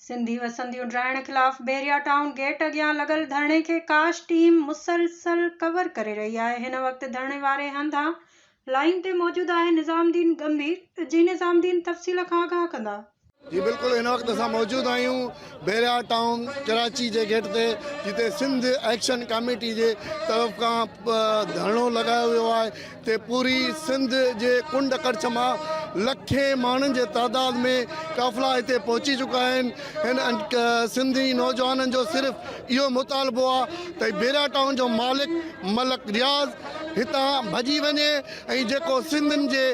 سنڌي وسنديون ڊاهڻ خلاف بحريا ٽائون گيٽ اڳيان لڳل ڌرڻي کي ڪاش ٽيم مسلسل ڪور ڪري رهي آهي هن وقت ڌرڻي واري هنڌان لائين تي موجود آهي نظام الدين ڳنڀير جي نظام الدين تفصيل کان آگاهه ڪندا. جي بلڪل هن وقت اسان موجود آهيون بحرياهه ٽائون ڪراچي جي گيٽ تي جتي سنڌ ايڪشن ڪاميٽي جي طرف کان ڌرڻو لڳايو ويو آهي تي پوري سنڌ جي ڪنڊ ڪڙڇ مان لکين ماڻهن جي تعداد ۾ قافلا هتي پهچي چڪا آهن هن سنڌي نوجوانن جو صرف اهو مطالبو آهي ته بحرياهه ٽائون جو مالڪ ملڪ رياض هتان ڀڄي وڃي ۽ جيڪو سنڌين جي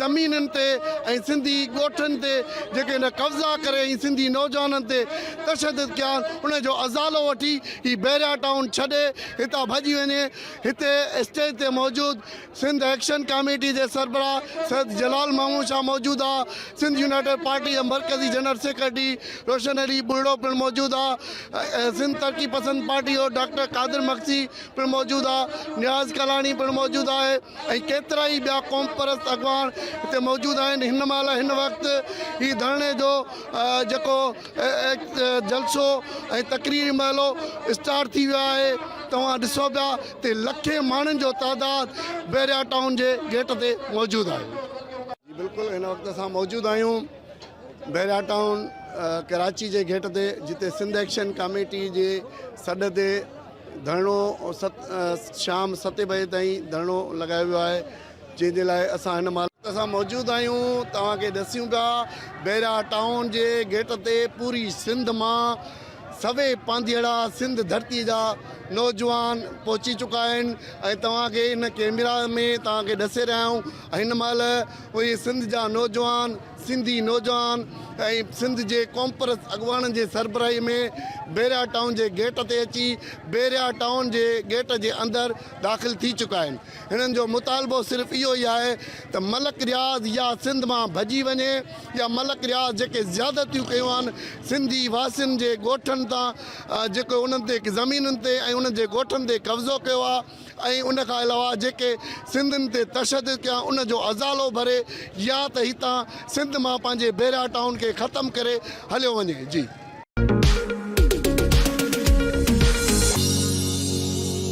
زمينن تي ۽ سنڌي ڳوٺن تي جيڪي هن قبضا ڪري ۽ سنڌي نوجوانن تي تشدد ڪيا آهن ان جو ازالو وٺي هي بحريا ٽائون ڇڏي هتان ڀڄي وڃي هتي اسٽيج تي موجود سنڌ ايڪشن ڪاميٽي جي سربراهه سيد جلال محمود شاهه موجود آ سنڌ يونائيٽيڊ پارٽي جي مرڪزي جنرل سيڪريٽري روشن علي ٻرڙو پڻ موجود آ سنڌ ترقي پسند پارٽي جو ڊاڪٽر قادر مگسي پڻ موجود آ، نياز ڪالاڻي پڻ موجود آهي ۽ ڪيترائي ٻيا قومپرست اڳواڻ هتي موجود آهن هن مهل هن وقت هي ڌرڻي جو جيڪو جلسو ۽ تقريري مهلو اسٽارٽ ٿي ويو آهي توهان ڏسو پيا ته لکين ماڻهن جو تعداد بحريا ٽائون جي گيٽ تي موجود آهي. جي بلڪل هن وقت اسان موجود آهيون بحريا ٽائون ڪراچي جي گيٽ تي جتي سنڌ ايڪشن ڪاميٽي جي سڏ تي ڌرڻو ست شام ستين بجي تائين ڌرڻو لڳايو ويو آهي جنهن جي لاء اسان هن مهل اسان موجود آهيون توهان کي ڏسيون پيا بيرا ٽائون جي گيٽ تي پوري سنڌ مان سوي پانڌيئڙا سنڌ ڌرتي جا نوجوان پهچي چڪا آهن ۽ توهان کي ان ڪيميرا ۾ توهان کي ڏسي رهيا آهيون هن مهل اهي سنڌ جا نوجوان سنڌي نوجوان ۽ سنڌ جي قومپرست اڳواڻن جي سربراهي ۾ بحريا ٽائون جي گيٽ تي اچي بحريا ٽائون جي گيٽ جي اندر داخل ٿي چڪا آهن هنن جو مطالبو صرف اهو ئي آهي ته ملڪ رياض يا سنڌ مان ڀڄي وڃي يا ملڪ رياض جيڪي زيادتيون ڪيون آهن سنڌي واسين جي ڳوٺن تان جيڪو انهن تي زمينن تي ۽ انهن جي ڳوٺن تي قبضو ڪيو آهي ۽ ان کان علاوه جيڪي سنڌين تي تشدد ڪيا ان جو ازالو ڀري يا ته هتان سنڌ مان پنهنجي بيرا ٽائون کي ختم ڪري هليو وڃي جي.